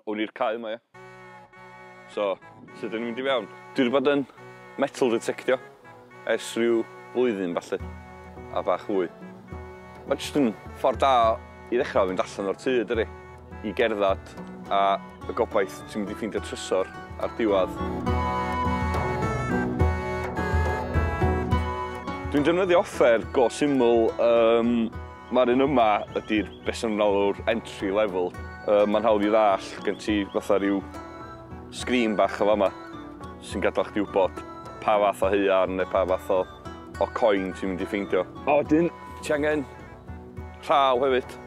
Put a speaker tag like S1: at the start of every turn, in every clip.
S1: Hwn i'r cae yma, ie. So, sut dyn ni'n mynd i fewn? Dwi wedi bod yn metal detectio ers rhyw flwyddyn falle, a bach fwy. Mae jyst yn ffordd da i ddechrau fynd allan o'r tŷ, dydy, i gerdded a y gobaith ti'n mynd i ffeindio trysor ar diwedd. Dwi'n defnyddio offer go syml, um, Mae'r un yma ydy'r beth sy'n enw'r entry level. Uh, Mae'n hawdd i ddall, gen ti fatha rhyw sgrin bach o fama sy'n gadael chdi wybod pa fath o heuan neu pa fath o, o coin ti'n mynd i ffeindio. A wedyn, ti angen rhaw hefyd.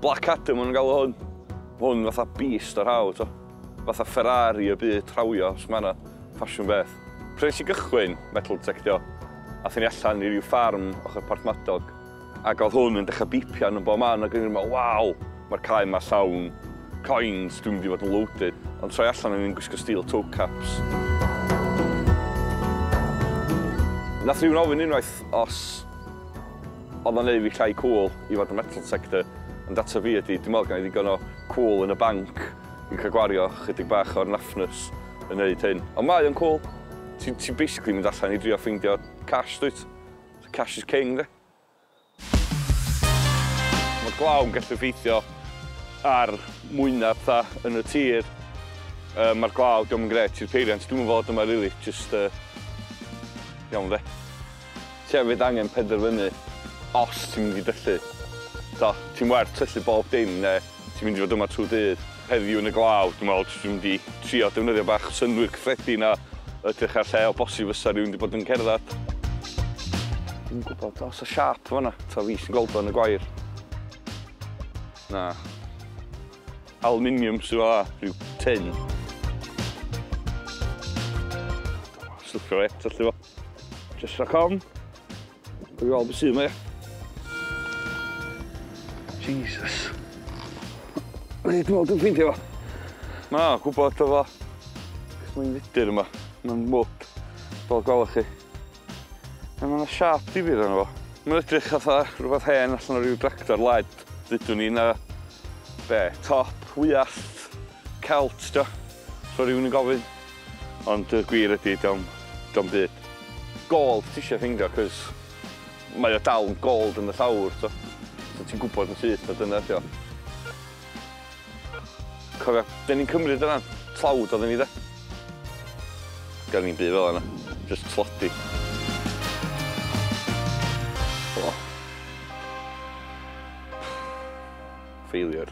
S1: Black Adam o'n galw hwn. Hwn fatha beast o rhaw, to. Fatha Ferrari y byd trawio os mae yna ffasiwn beth. Pryd nes i gychwyn metal detectio, aethon ni allan i ryw ffarm ochr Porthmadog, ac oedd hwn yn dechrau bîpio arno bob man, ac o'n i'n meddwl, waw, mae'r cae yma llawn coins, dwi'n mynd i fod yn loaded. Ond troi allan o'n i'n gwisgo steel toe caps. Nath rhywun ofyn unwaith os oedd o'n neud fi llai cŵl i fod yn metal detector, ond ateb fi ydi, dwi'n meddwl gynna i ddigon o cŵl yn y banc. Fi'n cael gwario chydig bach o'r naffnws yn neud hyn. Ond mae o'n cwl. Ti, ti basically mynd allan i drio ffeindio cash, dwyt? So cash is king, de? Mae glaw yn gallu effeithio ar mwyna ptha yn y tir. Uh, Mae'r glaw, diolch yn gret i'r peiriant. Dwi'n fod yma, really. Just, uh, iawn, de? Ti hefyd angen penderfynu os ti'n mynd i dyllu. Da, ti'n werth tyllu bob dim, neu Ti'n mynd i fod yma trwy dydd heddiw yn y glaw, dwi'n meddwl, jyst yn mynd i trio defnyddio bach synnwyr cyffredin a edrych ar lle o bosib fysa rhywun wedi bod yn cerdded. Dwi'n gwybod os y siâp fanna, ta fi sy'n gweld o yn y gwair. Na. Aluminium sydd fanna, rhyw tin. Dwi'n meddwl, slicio fe, tyllu fo. Jyst rhag ofn. Dwi'n gweld beth sydd yma. Jesus. Dwi'n meddwl dwi'n ffeindio fo. Na, gwybod o fo. Mae'n fudur yma. Mae'n mwg. Fel gwelwch chi. Mae yna siap difyr yna fo. Mae'n edrych atho rhywbeth hen allan o ryw dractor led. Dydw ni na... Be? Top? Wyallt? Celt ydy o, so rhywun yn gofyn. Ond y gwir ydy, ydy o'm, ydy o'm byd. Gold ti isio ffeindio, cos mae o dal yn gold yn y llawr, t'o'. So ti'n gwbod yn syth na dyna ydy o. Cofia, 'den ni'n cymryd y ran tlawd odden ni de? Gan ni'm byd fela na, jyst tlodi. O. Failure.